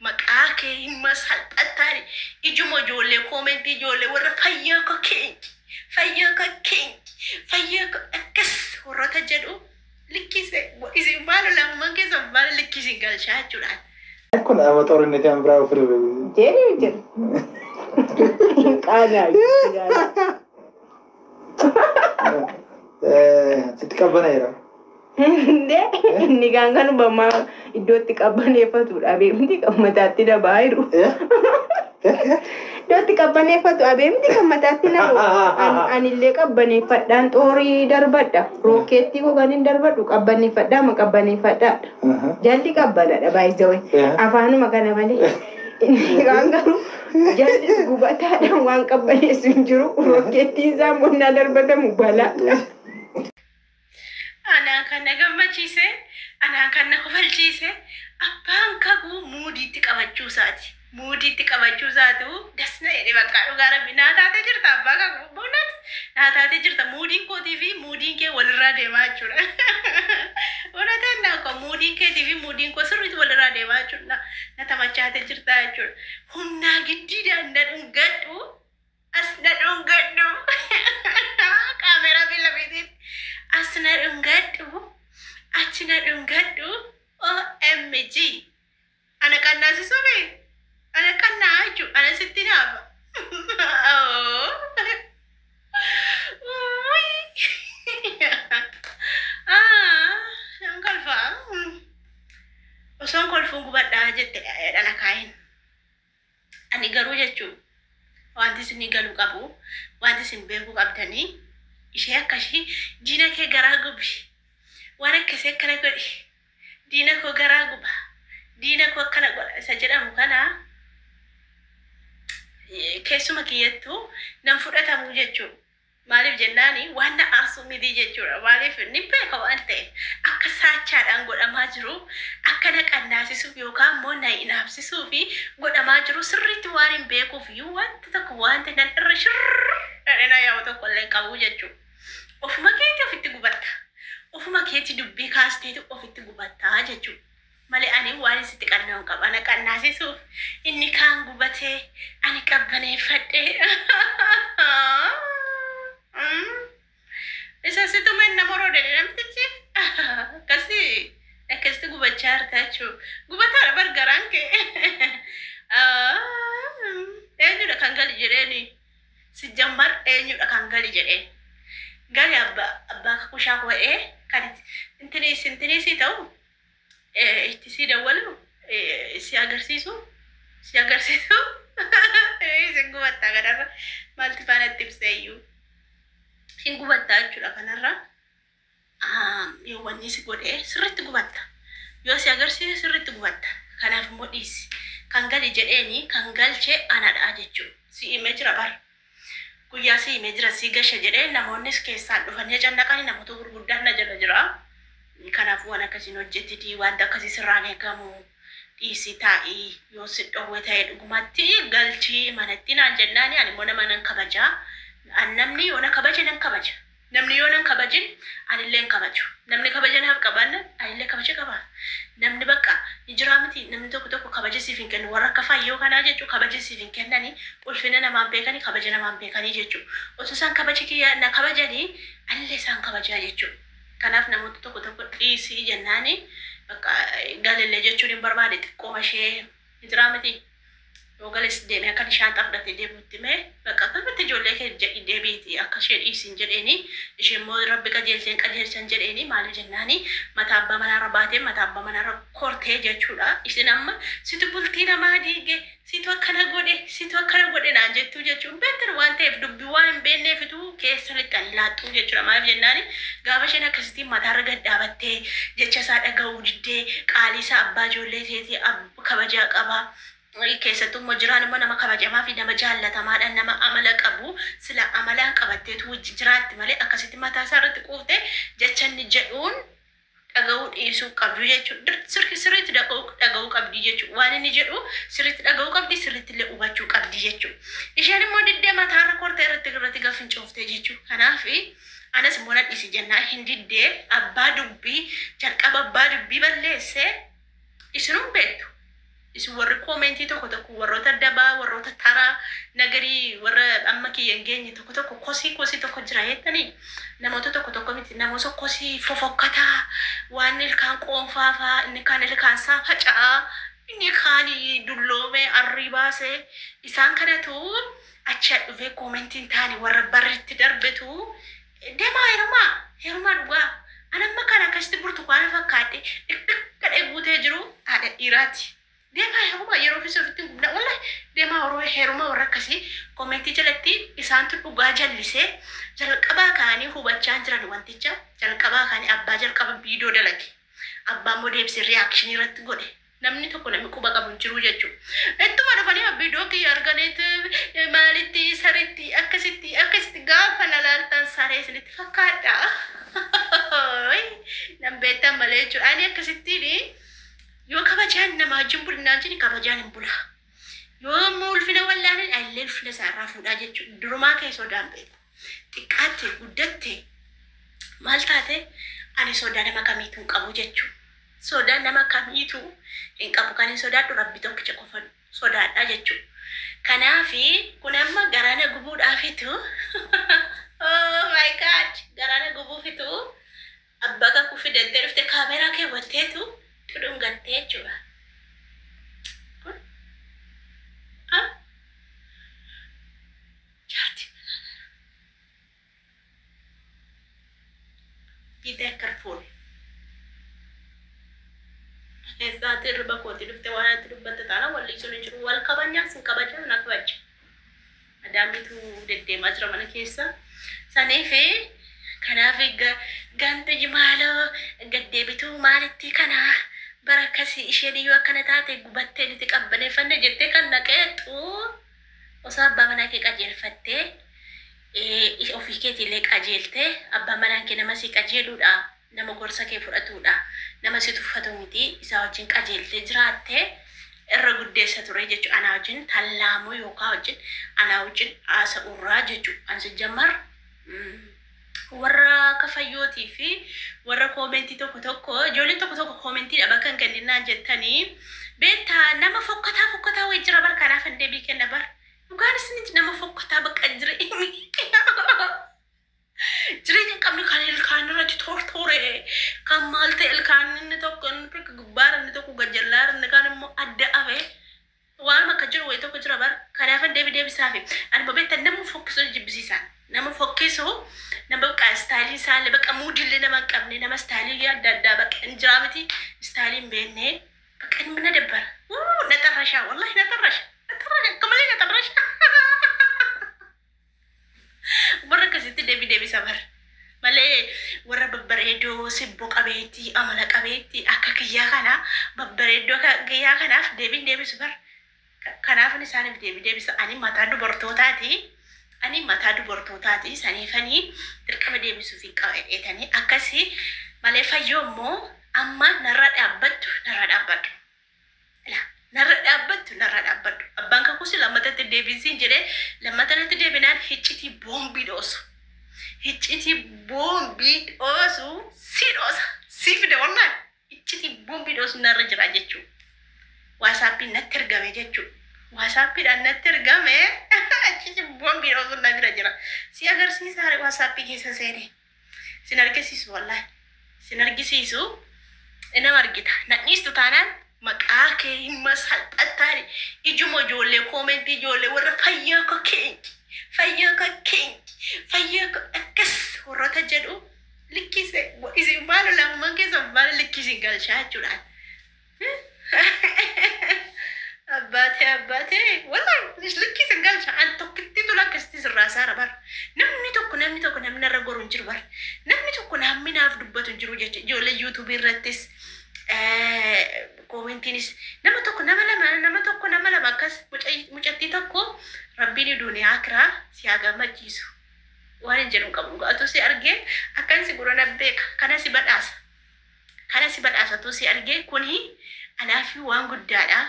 maqaa kee hin ma salphattaani ijuma ijoollee koomentii ijoollee warra fayyoo ko keenki fayyoo ko keenki fayyoo ko akkas warrota jedhu likkii se- wa- isin faana lamuman keessan faana likkii isin galchaa jechuudha Kun amma xoorinni kan biraa ofirra beeku. Jedhi jedhi. Qaanaa. Sitti qabbana'eera. Hundee inni kaan kan hubamaa iddootti qabbaneeffatu dhabee miti kan mataatti na bahaa jiru. Iddootti qabbaneeffatu dhabee miti kan mataatti na bahu. An- Anillee qabbaneeffadhaan xoorii darbadha. Rookkeettii koo kan hin darbadhu qabbaneeffadhaa ma qabbaneeffadhaadha. Jalli qabbanadha baay'ee Yeah. afaanuma kana malee. Iiraan garuu jarri gubataadhaan waan qabbaneessu hin jiru. Rokkeettiin isaa immoo innaa darbatamu balaadha. Anaa kan na gammachiise, anaa kan na kofalchiise abbaan kakuu muudiitti qabachuu isaati. Muudiitti qabachuu isaatu das na jedhe bakka dhugaa rabbi naa taatee jirta abbaa kakuu. Buunat! naa taatee jirta muudiin kootii fi muudiin kee walirraa deemaa jechuudha. Unateen naa koo muudiin keetii fi muudiin koo sirriitti walirraa deemaa jechuudha. Na taphachaatee jirta jechuudha. Humnaa giddiidhaan na dhungadhu as na dhungadhu kaameeraa fi lafiitiin as na dhungadhu achi na dhungadhu OMG. Ana qannaasisuu bee ana qannaa jechuun ana sitti naafa. Nan kolfaa. Osoon kolfuun gubadhaa jette dhana kaayin. Ani garuu jechuun wanti isinii galu qabu wanti isin beekuu qabdani ishee akkashii diina kee garaa gubi waan akkasii akkana godhi diina koo garaa guba diina koo akkana godha isa jedhamu kana keessuma kiyyattu nan fudhatamuu jechuudha. Maaliif jennaan waan na aarsu miti jechuudha. Maaliif nin beeka waan ta'eef. Akka saachaadhaan godhamaa jiru akka na qannaasisuuf yookaan immoo na inaafsisuuf godhamaa jiru sirriitti waanin beekuuf iyyuu wanta tokko wanti nan irra shirr jedhee na yaa'u tokko illee hin qabu jechuudha. Ofuma keetii ofitti gubatta. Ofuma keetii dubbii kaasteetu ofitti gubatta jechuudha. malee ani waanin sitti qanna'u hin qabu. Ana qannaasisuuf inni kaan gubatee ani qabbaneeffadhe. Isa si tume na moroodani namtichi. Akkasi akkasitti gubachaa jirta jechuu. Gubataadha bar garaan kee. Eenyudha kan gali jedheeni. Sijjambar eenyudha kan gali jedheen. Gali abba abbaa kakushaa koo'ee kan intini intini sii ta'u. eh, itti si dawwalu eh, si agarsiisu si agarsiisu Eh, isin gubattaa kanarra maalti faana itti ibseeyyuu isin gubattaa jechuudha kanarra Ah, yoo wanni si godhe sirriitti gubatta yoo si agarsiise sirriitti gubatta kanaaf immoo dhiisi kan gali jedheeni kan galche anadha jechuudha si himee jira bara Guyyaa si himee jira si gashe jedhee namoonnis keessaan dhufanii acannaqani namoota gurguddaan na jala jira. Kanaaf waan akkasii hin hojjetiti wanta akkasii sirraa hin eegamu dhiisii taa'i yoo si dhowwe ta'e dhugumatti galchii manatti naan jennaani ani immoo nama nan kabaja. An namni yoo na kabaje nan kabaja. Namni yoo nan kabajin anillee hin kabaju. Namni kabaja naaf qabaannan anillee kabaja qabaaf. Namni bakka ni jiraa mitii namni tokko tokko kabaja siif hin kennu warra akka Fayyoo kanaa jechuu kabaja siif hin kennani ulfina namaa hin beekani kabaja namaa hin beekani jechuu. Osoo isaan kabaja kiyya na kabajani anillee isaan kabajaa jechuu. Kanaaf namoota tokko tokko dhiisi jennaani bakka galillee jechuun hin barbaade xiqqooma ishee ni jiraa mitii. Yoo gales deeme akka inni shaanxaa fudhatee deemu itti hime. Baqa akkanumatti ijoollee keef jedhi deebiiti akka ishee dhiisin jedheeni. Isheen immoo Rabbi qajeelcheen qajeelchan jedheeni. Maaliif jennaani mataa abbaa manaa irra baatee mataa abbaa manaa irra kortee jechuudha. Isin amma situ bultii namaa diige, situ akkana godhe, situ akkana godhe naan jettuu jechuu hin beektan waan ta'eef dubbii waan hin beekneefitu keessa lixxanii laattu jechuudha. Maaliif jennaani gaafa isheen akkasitiin mataa irra gad dhaabattee jecha isaa dhaga'uu diddee qaalii isaa abbaa ijoollee teetii ab kabajaa qaba. Keessattuu immoo jiraan immoo nama kabajamaa fi nama jaallatamaadha. Nama amala qabu sila amalaan qabatteetu wajjin jiraatti malee akkasitti mataa isaa irratti quufte jecha inni jedhuun dhaga'uu dhiisuu qabdu jechuudha. Dir- Sirki sirriitti dhaga'uu dhaga'uu qabdi jechuudha. Waan inni jedhu sirriitti dhaga'uu qabdi sirriitti illee hubachuu qabdi jechuudha. Isheen immoo diddee mataa irra kortee irratti irratti gaafa fincooftee jechuudha. Kanaaf anas immoo nan dhiisi jennaa hin diddee abbaa dubbii jalqaba abbaa dubbii balleessee Isinuu beektu. Isin warri koomentii tokko tokko warroota dabaa, warroota taraa, nagarii warra amma kiyya hin geenye tokko tokko kosii kosii tokko jira jettanii namoota tokko tokko miti namoota kosii fofokkataa waan ilkaan qoonfaafaa inni kaan ilkaan isaa faca'aa inni kaan dulloomee arrii baasee isaan kanatu achi dhufee koomentiin taane warra barritti darbetu Demaa herumaa herumaa dhugaa an amma kan akkasitti burtukaana fakkaadhe dhikdhikadhee guutee jiru haadha dhiiraati. Demaa herumaa yeroo keessa ofitti hin gubna walla demaa horoo herumaa warra akkasii komentii jalatti isaantu dhugaa jallisee jalqabaa kaanii hubachaan jiran wanticha jalqabaa kaanii abbaa jalqaba viidiyoo dalage abbaa immoo deebisee reaction irratti godhe Namni tokko nami quba qabu hin jiruu jechu. Ittuma dhufanima video kiyya arganit maalitti saritti akkasitti akkasitti gaafa na laaltan saree isinitti fakkaadha. Hooy nan beektan malee jechuudha. Ani akkasittiini yoo kabajaan nama wajjin bulnaan jedhi kabajaan hin bula. Yoo immoo ulfina wallaanin illee ulfina isaa irraa fuudhaa jechuudha. Durumaa kee sodaan beeku. Xiqqaatte, guddatte, maal taate ani sodaa nama kamiituu hin qabu jechuu. Sodaa nama kamiituu hin qabu. Kanin sodaadhu Rabbi tokkicha qofan sodaadha jechuu. Kanaafi kun amma garaa na gubuudhaafitu oh my god garaa na gubuufitu abbaa kakuu fidattee dhufte kaameeraa keewwatteetu tudhungattee jechuudha. Kun ah Jaartii manaa nana. Be very careful. Eessaa ati irriba kooti dhufte waan ati dubbatte taana walli sun hin jiru. Wal kabajnaan sin kabaja na kabaja. Adaamitu deddeemaa jira mana keessa. Saniifi kanaaf ga- ganta jimaaloo gaddeebituu maalitti kana bara akkasii isheen iyyuu akkana taate gubattee nuti qabbaneeffanne jettee kan naqeexxu. Osoo abbaa manaa kee qajeelfattee, ee, ofii keetii illee qajeeltee, abbaan manaan kee nama si qajeeluu dha, nama gorsa kee fudhatuu dha, nama si tuffatu miti, isaa wajjin qajeeltee jiraatte, irra guddeessa ture jechuu anaa wajjin tallaamuu yookaa wajjin anaa wajjin haasa'uu irraa jechuu an sijjammar, mm. Warra akka Fayyootii fi warra comment tokko tokko ijoolleen tokko tokko comment dha bakka hin kennin naan jettanii beektaa nama fokkataa fokkataa wayii jira bar kanaaf hin deebii kenna bar dhugaan isiniti nama fokkataa baqa jireenya jireenya hin qabne kan ilkaan irratti tortoore kan maal ta'e ilkaan inni tokko inni tokko gubbaara inni tokko gajallaara inni kaan immoo adda afe Waanuma akka jiru wayi tokko jira bar kanaafan deebi deebisaafi anuma beektan namuu fokkisu na jibbisiisa nama fokkisu nama baqa istaayilii isaallee baqa muudii illee nama hin qabne nama istaayilii adda addaa baqa hin jiraa miti istaayilii hin beekne baqa inni na dabbara wuu na xarrashaa wallahi na xarrasha na xarrasha akka malee na xarrasha Warra akkasitti deebii deebisa bar. Malee warra babbareedoo sibboo qabeetti amala qabeetti akka kiyyaa kana babbareedoo akka kiyyaa kanaaf deebiin deebisu bar. Ka- Kanaafin isaaniif deebii deebisa. Ani mataa dubartootaati. Ani mataa dubartootaati. Saniifanii dirqama deebisuuf hin qaba jedheetanii akkasii malee fayyoo immoo amma narra dhaabbattu narra dhaabbadhu. Ilaa. Narra dhaabbattu narra dhaabbadhu. Abbaan kakuus lammata itti hin deebiin siin jedhee lammata natti deebinaan hiccitii boombii dhoosu. Hiccitii boombii dhoosu si dhoosa. Si fida wallaan. Hiccitii boombii dhoosu narra jira jechuu. Waasaappiin natti ergame jechuu. Waasaappiidhaan natti ergame hiccitii boombii dhoosu na bira jira. Si agarsiisaa waasaappii keessa seenee. sin argisiisu wallahi sin argisiisu inama argita nadhiistu taanaan maqaa kee himma salphattaani ijuma ijoollee koomentii ijoollee warra fayyaa ka keenki fayyaa ka keenki fayyaa ka akkas warrota jedhu likkise isin baala lafuman keessa baala likkisi galchaa jechuudhaan Abbaatee abbaatee wallahi likkii sin galcha an tokkittiitu lakkistis irraa saara bar namni tokko namni tokko namni irra goru hin jiru bar namni tokko namni naaf dubbatu hin jiru jecha ijoollee yuutuubii irrattis koomentiinis nama tokko nama lama nama tokko nama lama akkas mucattii tokko rabbiin duuniyaa kiraa si haa gammachiisu waan hin jedhu hin qabu dhugaa utuu si argee akkan si gurana beeka kana si badhaasa Kana si badhaasatuu si argee kuni anaafii waan guddaadha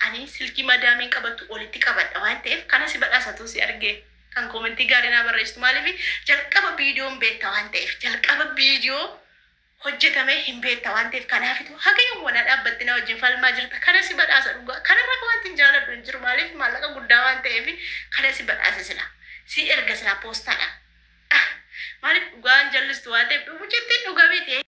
ani silkii madaamiin qabattu olitti qabadha waan ta'eef kana si badhaasatuu si argee kan koomentii gaarii naa barreessitu maaliif jalqaba viidiyoon beetta waan ta'eef jalqaba viidiyoo hojjetamee hin beetta waan ta'eef kanaafitu haga yoom wanaa dhaabbatti na wajjin falmaa jirta kana si badhaasa dhugaa kanarra wanti hin jaaladhu hin jiru maaliif maallaqa guddaa waan ta'eef kana si badhaasa sila si erga silaa poostaadhaan maaliif dhugaan jallistu waan ta'eef mucattiin dhugaa beekte